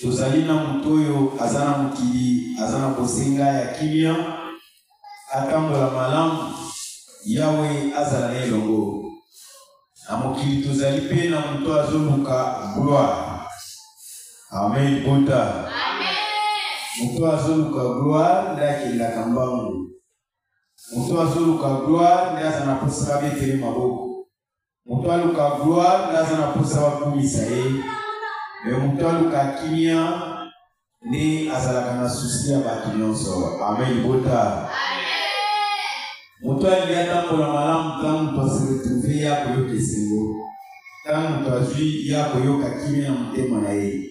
tozali na moto oyo aza na mokili aza na bosenga ya kimia atambola malamu yawe azala na elongo na mokili tozali mpe na moto azoluka gloire amen bota moto azoluka gloire nde akendaka mbangu moto azoluka gloire nde aza na mposa abetele maboko moto aluka gloire nde aza na mposa bakumisa ye me moto aluka kimia nde azalaka na susi ya bato nyonso ame libota moto alingi atambola malamu ntango moto aseretrouve ye akoyoka esengo ntango moto azwi ye akoyoka kimia na motema na ye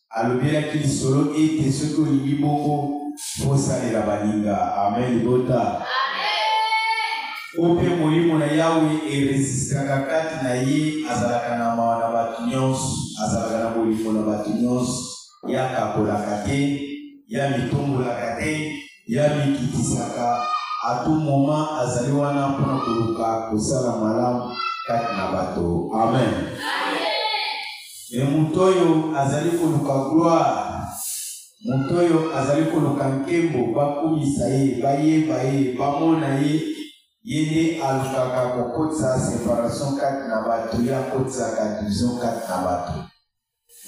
alobelaki lisolo ete soki olingi bongo osalela baninga amen libota oyo mpe molimo na yawe eresistaka kati na ye azalaka na mawa na bato nyonso azalaka na bolingo na bato nyonso ye akakolaka te ye amitombolaka te ye amikitisaka atu moma azali wana mpo na koluka kosala malamu kati na bato amen, amen. Mais moto oyo azali koluka gloire, moto oyo azali koluka nkembo, bakumisa ye, bayeba ye, bamona ye, ye nde alukaka kokotisa separation kati na bato, ye akotisaka division kati na bato.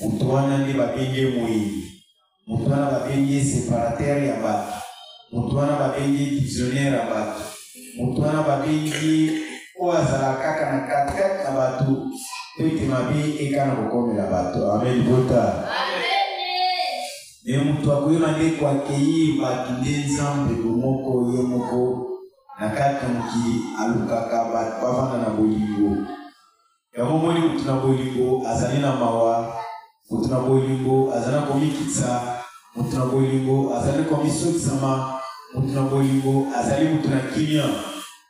Moto wana nde babengi ye moyini. Moto wana babengi ye separateur ya bato. Moto wana babengi ye divisionnaire ya bato. Moto wana babengi ye oyo azalaka kaka na katikati na bato mpo ete mabe ekana kokomela bato. Amen, bota. Me moto akoyeba nde koakeyi bato nde Nzambe bomoko ye moko na kati na mokili alukaka bato bavanda na bolingo. Yango omoni, moto na bolingo azali na mawa, moto na bolingo azali na komikitisa, moto na bolingo azali komisokisama, moto na bolingo azali moto na kimia,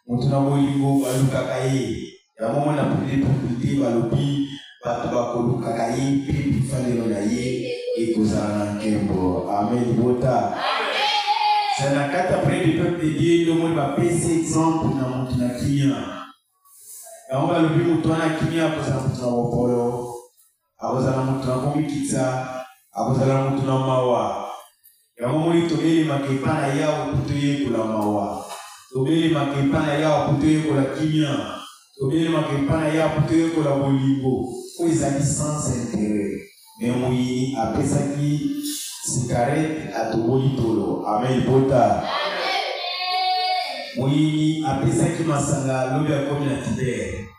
moto na bolingo balukaka ye. Yango omoni na pwete balobi bato bakolukaka ye mpe bifanelo na ye ekozala na nkembo. Amen, libota. C'est na kati ya pwete peuple de Dieu nde omoni bapesi exemple na moto na kimia. yango balobi moto wana kimia akozala moto na bopolo akozala moto na komikitisa akozala moto na mawa yango moni tobelemaka epa na yawe mpo toyekola mawa tobelemaka epa na yawe mpo toyekola kimia tobelemaka epa na yawe mpo toyekola bolingo oyo ezali sans interet Mais moyini apesaki cigarette atoboli tolo ame libota moyini apesaki masanga lobi akomi na titere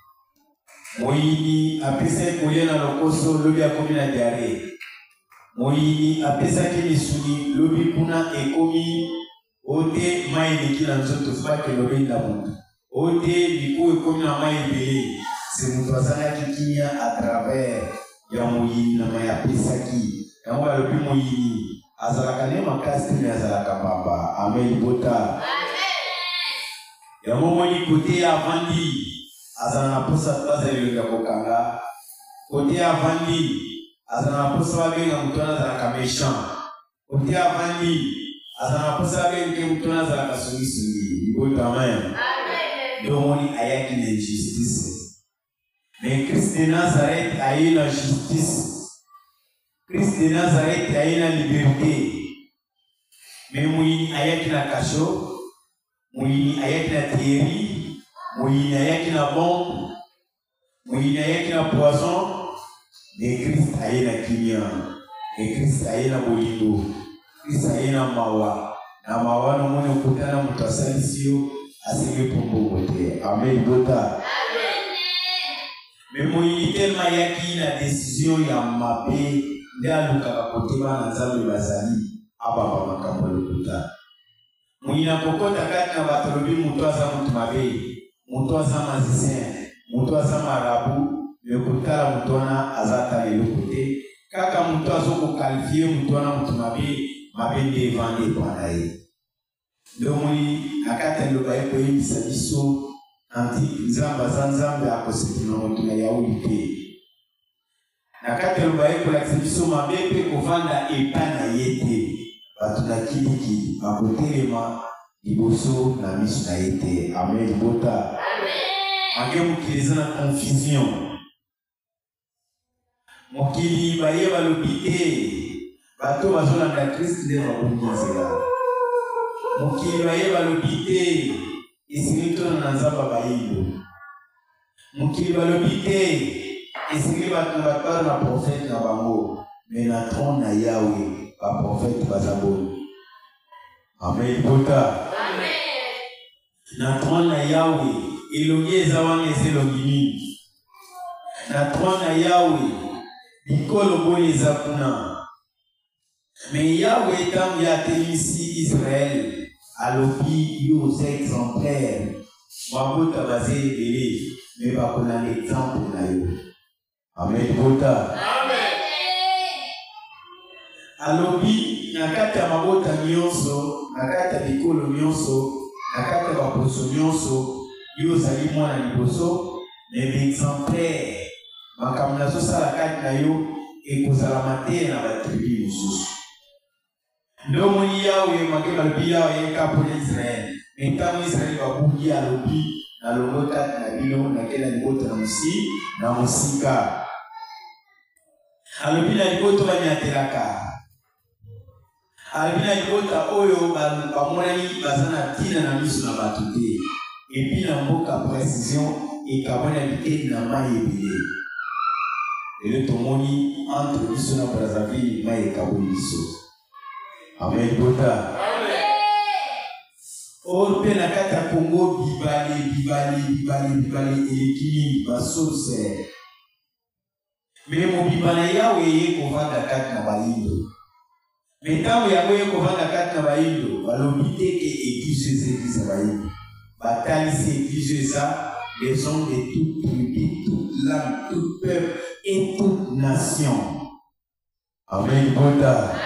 moyini apesaki kolia na lokoso lobi akomi na diare moyini apesaki misuni lobi kuna ekomi ote mai eleki na nzoto faki elobenda moto ote mikuwa ekomi na mai ebele se moto azangaki kimia a travers ya moyini na mai apesaki yango balobi moyini azalaka nde makasi te me azalaka pamba ame libota yango omoni kote ya avandi azala na mposa baza elongi ya kokanga kote ya avandi azala na mposa babenga moto wana azalaka méchant ote avandi aza na mposa ya benge moto na azalaka songisongi liboto amen domoni ayaki na injustice me krist de nazareth aye na justice krist de nazareth aye na liberté me moyini ayaki na kasho moyini ayaki na theorie moyini ayaki na bombe moyini ayaki na poison me krist aye na kimia me krist aye na bolingo krist aye na mawa na mawa namoni okuta na moto asalisi yo asengi mpo mbongo te amen bota me moyini telema ayaki na desizio ya mabe nde alukaka kotema na nzambe bazali abamba makambo ya lokuta Muyi na kokota kati na bato alobi mutu aza mutu mabe, mutu aza magicien, mutu aza marabout mais kotala mutu wana aza ata na eloko te, kaka mutu azo ko qualifier mutu wana mutu mabe, mabe nde evandi epa na ye. Nde omoni na kati ya liloba ye koyebisa biso anti Nzambe aza Nzambe akosepela na mutu na yauli te. na kati ya loba ye kolakisa biso mabe mpe kovanda epai na ye te bato na kiliki bakotelema liboso na miso na ye te amen libota ange mokili eza na confusion mokili baye balobi te bato bazolanda krist nde babongi nzela mokili baye balobi te esili tona na nzamba bayindo mokili balobi te esengeli bato batala na profete na bango me na tron na yawe baprofete baza boni amen pota na tron na yawe elongi eza wana eza elongi nini na tron na yawe bikolo boni eza kuna Mais Yahweh, ntango ye atelisi Israël, alobi yo oza exemplaire mabota baza ebele me bakolanda exemple na yo amen bota alobi na kati ya mabota nyonso na kati ya bikolo nyonso na kati ya baposo nyonso yo ozali mwana liboso Mais Vincent Père, makambo nazosala kati na yo ekozala mateya na batribi mosusu. Nde omoni yawe emake balobi yawe yekapola Israele, me ntango Israele babuki alobi nalongwe kati na bino nakela libota na mosi na mosika alobi na liboto banyatelaka alobi na libota oyo bamonani baza na ntina na miso na bato te epi na mboka précision ekabwana biteni na mai ebele lelo tomoni entre biso na brazzaville mai ekaboli biso amen libota or mpe na kati ya kongo bibale bibale bibale bibale eleki mingi basource me mobimba na yawe eye kovanda kati na bayindo me ntango yango eye kovanda kati na bayindo balobi te ke eglise eza eglise ya bayindo batalisi eglise eza maison de toute tribu toute lame toute peuple et toute nation Amen libota.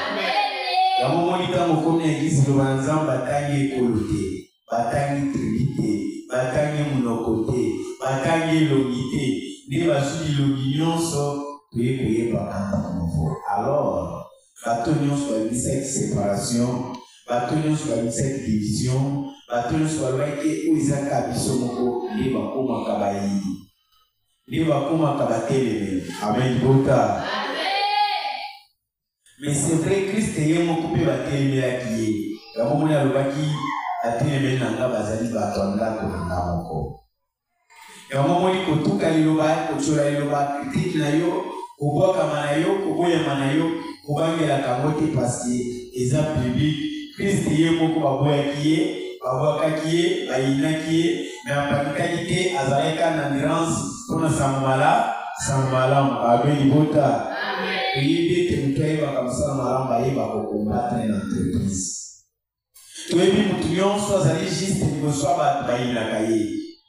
Yango moni ntango okomi na eglise loba na Nzambe atangi ekolo te, batangi tribu te, batangi monoko te, batangi elongi te, nde bazwi bilongi nyonso toye koyeba kanta nouveau. Alors, bato nyonso babisaki separation, bato nyonso babisaki division, bato nyonso balobaki oyo ezaka biso moko nde bakomaka bayini. nde bakomaka batelemeli ame libota mais c'est vrai christ ye moko mpe batelemelaki ye yango moni alobaki atelemeli na nga bazali bato ya ndako na nga moko yango moni kotuka liloba kotyola liloba kritike na yo kobwakama na yo koboyama na yo kobangelaka yango te pasi eza biblique kristo ye moko baboyaki ye babwakaki ye bayinaki ye Mais apatikaki te, azalaki kaka na nuance mpo na sango mala sango malamu. Abe libota toyebi ete moto ayebaka mosala malamu ayeba kokombatre na entreprise. Toyebi moto nyonso azali juste liboso ya bato bayinaka ye,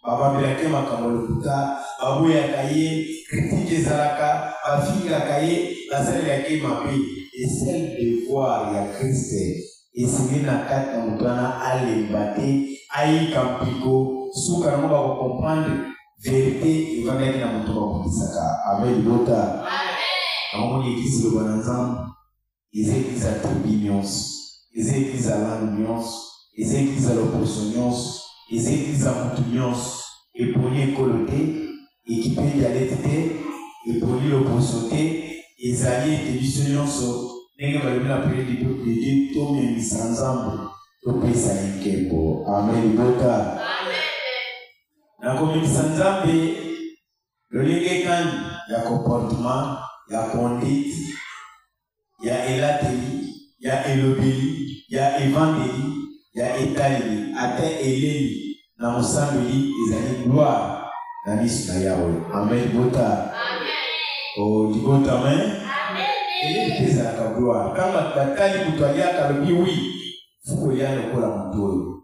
bababelaki ye makambo lokuta, baboyaka ye, kritike ezalaka, bafingaka ye, basalelaki ye mabe. Esel devoir ya Kriste Esili na kati na moto wana alemba te, ayika mpiko, suka yango bakokomprendre verite efandaki na moto bakotisaka ave libota akomoni ekisi loba na nzambe eza ekisa tribi nyonso eza ekisa langue nyonso eza ekisa loposo nyonso eza ekisa motu nyonso eponi ekolo te Ekipe dialekte te, epoli loposo te, ezali ete biso nyonso ndenge balobi na priere du peuple de Dieu tomemisa Nzambe topesa ye nkembo. Amen libota. Nakomemisa Nzambe lolenge kani ya comportement ya conduite ya elateli, ya elobeli, ya evandeli, ya etaleli, ata eleli na mosambeli ezali gloire na miso na Yawe. Amen, libota. O oh, libota, amen. Eleli mpe ezalaka gloire. Kama batali moto aliaka alobi wi, fuko ya lokola moto oyo.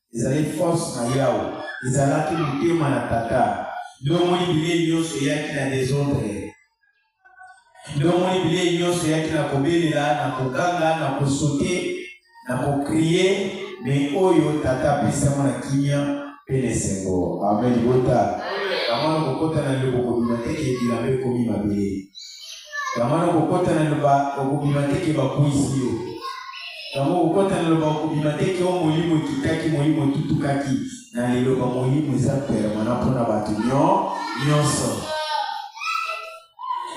Ezali force na Yawe. Ezalaki motema na Tata. Nde omoni bilei nyonso eyaki na desordre. Nde omoni bilei nyonso eyaki na kobelela, na koganga, na kosote, na kokrie, me oyo Tata apesi yango na kimia mpe na esengo. Amen, libota. Amen. Namona kokota na ndeko kobima te, ke bilamba ekomi mabele. Kamwana okokota na loba okobima te ke bakwisi yo. Yango okokota na loba okobima te ke o molimo ekitaki molimo etutukaki na liloba molimo eza permana mpo na bato nyo nyonso.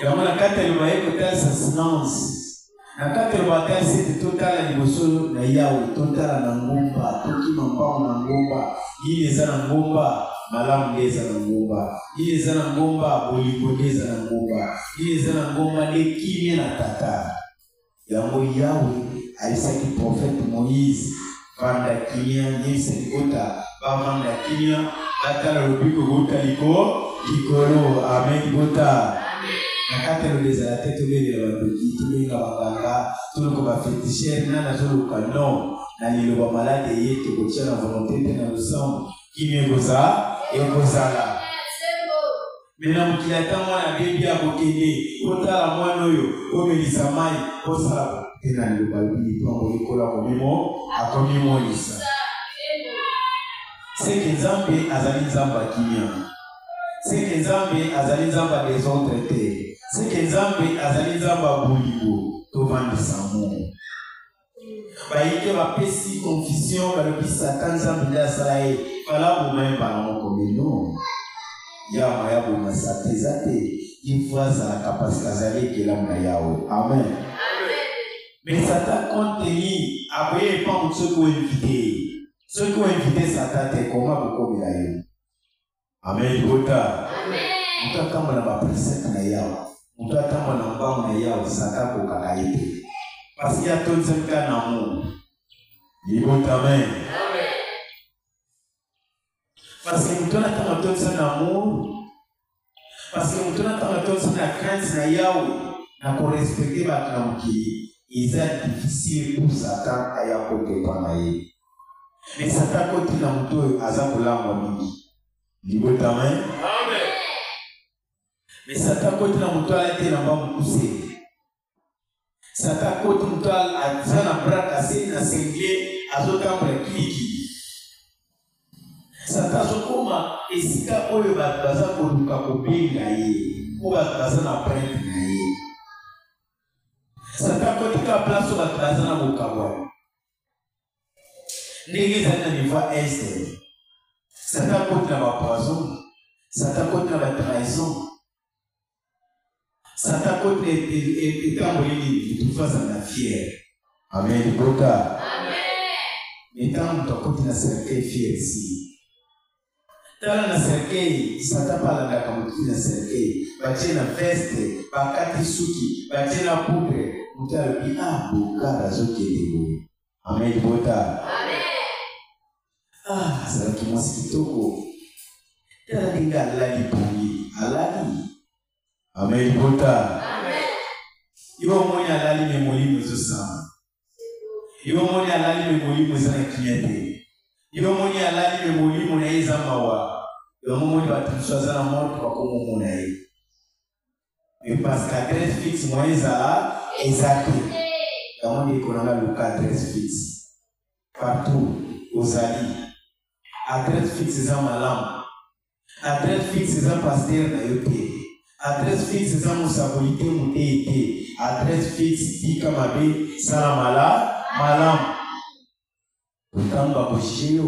Yango na kati ya loba ye kotalisa silence. na kati ya bakasi ete totala liboso na yawe totala na ngomba tokima mpango na ngomba nini eza na ngomba malamu nde eza na ngomba nini eza na ngomba bolingo nde eza na ngomba nini eza na ngomba nde kimia na tata yango yawe ayisaki profete moïse Vanda kimia nyese likota bavanda kimia batala lobiko kouta liko likolo ame libota na kati ya lola ezala te tobelela bandoki tobenga banganga toloko bafetishere na nazoluka no na liloba malade eye tokotya na volonte te na losambo kimia ekozala ekozala me na mokili ata mwana abebi akokende kotala mwana oyo komelisa mai kosala te na liloba lobi ntongo likolo akomimo akomimonisa seke nzambe azali nzambe ya kimia seke nzambe azali nzambe ya desordre te seke nzambe azali nzambe ya bolingo tovandisa mo bayike bapesi confusion balobi satan nzambe nde asala ye fala boma ye mbala moko mino yawa ya boma sata eza te ifo azalaka parce que azali ekelamu na yawe amen mais satan contenu akoye epa motu soki oinvite ye soki oinvite satan te koma kokomela ye amen libota moto atamba na bapresete na yawe moto atamba na mbango na yawe sata kokaka ye te pasi atondisaka na mobu libota amen parce que moto natanga atondisa na amour parce que moto natanga atondisa na crainte na yawe na korespecte bato na mokili eza difficile pour satan aya kokepa na ye Mais Satan koti na moto oyo aza kolangwa mingi. Libota amen. Amen. Mais Satan koti na moto alaki na mba mokuse. Satan koti moto aza na bras cassé na single azotambola kilikili. Satan azokoma esika oyo bato baza koluka kobenga ye mpo bato baza na printe na ye. Satan kotika place oyo bato baza na bokabwani. ndenge ezali na niveau ya est satan koti na bapoison satan koti na batrahison satan koti na etamboli nini motutu azali na fiere amen libota ntango moto akoti na cercueil fiere si tala na serkei sata mpe alandaka motu na serkei batie na veste bakati suki batie na pupe motu alobi a ah, bokar azokende boye amen bota ah, azalaki mwasi kitoko tala ndenge alali pongi alali amen bota yo omoni alali me molimo ezosamba yo omoni alali me molimo eza na kimia te yo omoni alali me molimo na ye eza mawa yango omoni bato mosusu aza na moto bakomomona ye me parce que adresse fixe moya ezala eza te yango ndeko nanga luka adresse fixe partout ozali adresse fixe eza malamu Adresse fixe eza pasteur na yo te. Adresse fixe eza mosakoli te moteyi te. Adresse fixe tika mabe sala mala malamu. Ntango bakojije yo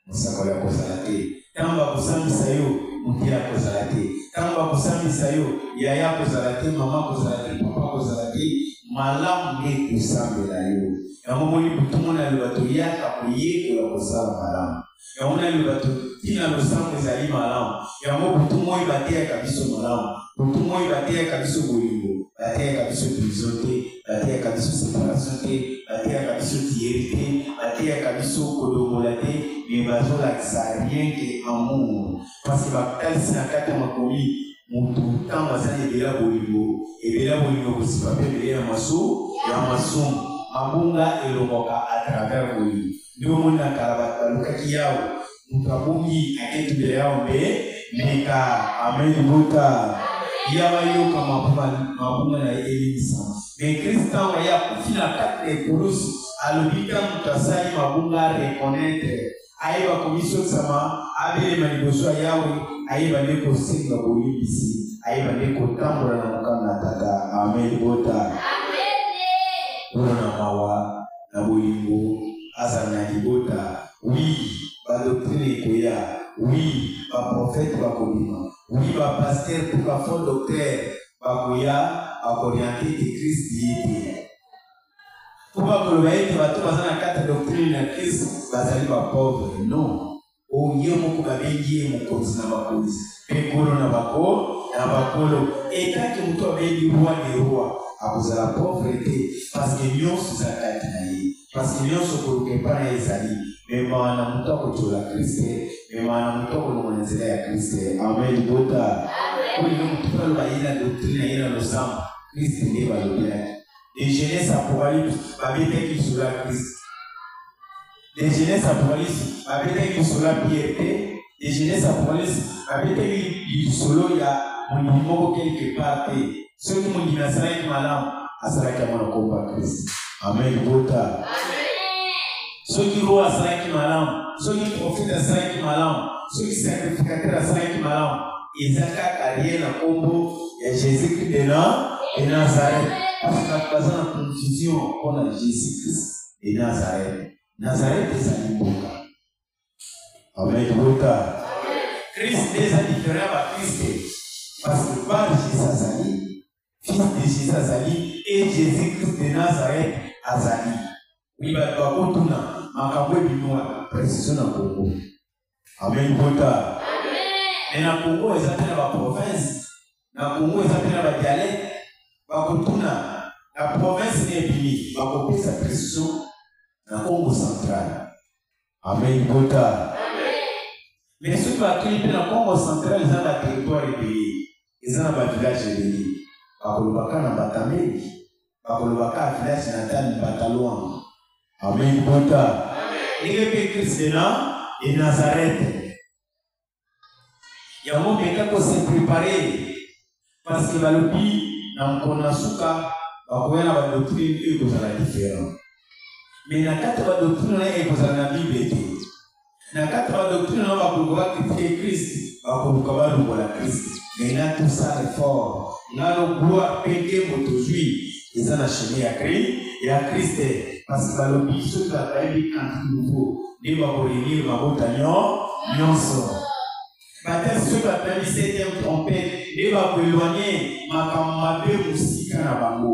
mosakoli akozala te. Ntango bakosambisa yo moteyi akozala te. Ntango bakosambisa yo yaya akozala te, mama akozala te, papa akozala te. Malamu nde kosambela yo. Yango moni butu mona loba toyaka koyekola kosala malamu. Yango nani bato ntina losambo ezali malamu. Yango butu moi bateyaka biso malamu. Butu moi bateyaka biso bolingo, bateyaka biso division te, bateyaka biso separation te, bateyaka biso tiyeri te, bateyaka biso kolongola te, mais bazolakisa rien que amour. Parce que batalisi na kati ya makomi moto ntango azali ebela bolingo, ebela bolingo kosipa mpe ebele ya maso ya masumu. Mabunga elongwaka à travers bolingo. Nde bomoni na kala bato balukaki Yawe, moto abungi ake tubela Yawe mpe mbeka. Amen libota. Yawe ayoka mabunga mabunga na ye elimbisama. Me Kristo ntango aye akufi na kati na ekulusu, alobi ntango moto asali mabunga a reconnaître, ayeba komisokisama, abelema liboso ya Yawe, ayeba nde kosenga bolimbisi, ayeba nde kotambola na mokano na Tata. Amen libota. Amen. Kuna na mawa. na bolingo azala na libota oui ba doctrine ekoya oui ba prophète bakobima oui ba pasteur to ba faux docteur bakoya bakoriente ete Christ ye te mpo bakoloba ete bato baza na kati ya doctrine na Christ bazali ba pauvre non Oyo ye moko babengi ye mokonzi na bakonzi mpe nkolo na bako na bakolo et tant que moto abengi roi de roi akozala pauvre te parce que nyonso eza kati na ye parce que nyonso koluka epai na ye ezali memaa na moto akotyola kriste memaa na moto akolongola nzela ya kriste ame libota oyo yo moto aloba ye na doctrine ye na losambo kriste nde balobelaki de jeunesse apocalypse babetaki lisolo ya kriste Dejeuner sa police babetaki lisolo ya Pierre te dejeuner sa police babetaki lisolo ya mondimi moko quelque part te soki mondimi asalaki malamu asalaki yango na kombo ya kristo amen libota soki roho asalaki malamu soki profete asalaki malamu soki sacrificateur asalaki malamu eza kaka lie na kombo ya jésus christ de nazareth parce que bato baza na confusion mpo na jésus christ e Nazareth. Nazareth ezali mboka. Amen. Mboka. Christ eza diferent ba Christ parce que par Jesus azali, fils de Jesus azali et Jésus Christ de Nazareth azali. Oui, bakotuna makambo ebimi wana precision na Congo. Amen pota. Mais na Congo eza pe na ba province, na Congo eza pe na ba dialecte, bakotuna na province na ebimi, bakopesa prescription na Congo central. Amen pota. Mais soki bakei pe na Congo central eza na territoire ebele, eza na ba village ebele, bakolobaka na batameli. bakoloba ka village natal mbataluan amen bota ndenge mpe kristo na e nazarete yango meka kose prepare parce que balobi na mokolo na suka bakoya na badoctrine oyo ekozala différent mais na kati ya badoctrine na ye ekozala na bible te Na kati ba doctrine na bakoluka ba critiquer Christ, bakoluka ba longola Christ. Mais na tout ça l'effort, na lo gloire pe nkembo tozui eza na chemin ya Christ, ya Christ te. Parce que balobi soki bato bayebi cantique nouveau nde bako réunir mabota nyo nyonso. Batasi soki bato bayebi septième trompette nde bako éloigner makambo mabe mosika na bango.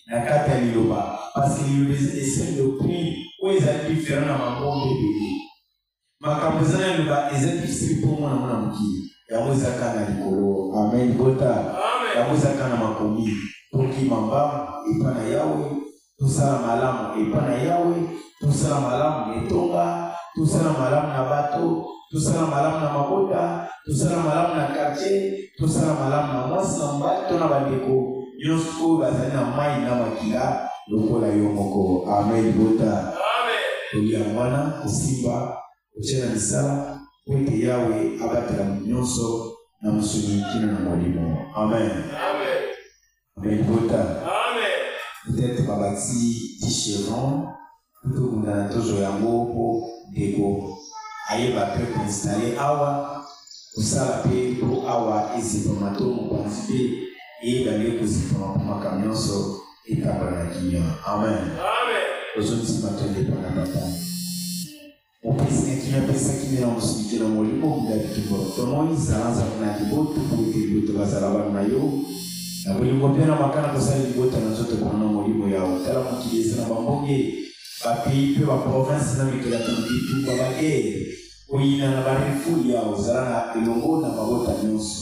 na kati ya liloba parce que liloba ese doctrine oyo ezali different na mangomba ebele makambo eza na liloba eza difficile mpo mwana mwana mokili yango ezaka na likolo amen bota yango ezaka na makomi tokima mbangu epa na yawe tosala malamu epa na yawe tosala malamu na etonga tosala malamu na bato tosala malamu na mabota tosala malamu na kartier tosala malamu na mwasi na mobali to na bandeko nyonso oyo bazali na mai na makila lokola yo moko ame libota toli yango wana kosimba kotya na misala mpo ete yawe abatela nyonso na mosuni kino na molimo amen, amen. libota peut-être babati dicheron tokunda tozo yango mpo debo ayeba mpe koinstalle awa kosala mpe mpo awa ezipama to mokonzi mpe eyeba nde kozipama mpo makambo nyonso etambola na kimia amen ozongisima tondepana papa Mopesaki na pesaki na yango siki na molimo munda bitumba tomoni zalanza na liboto boyete liboto bazala bana na yo na bolingo mpe na makana kosala libota na nzoto mpona na molimo ya otala mokili eza na bambonge bapays mpe baprovince na mikolo ya bitumba bagere koyina na barefuli ya ozala na elongo na mabota nyonso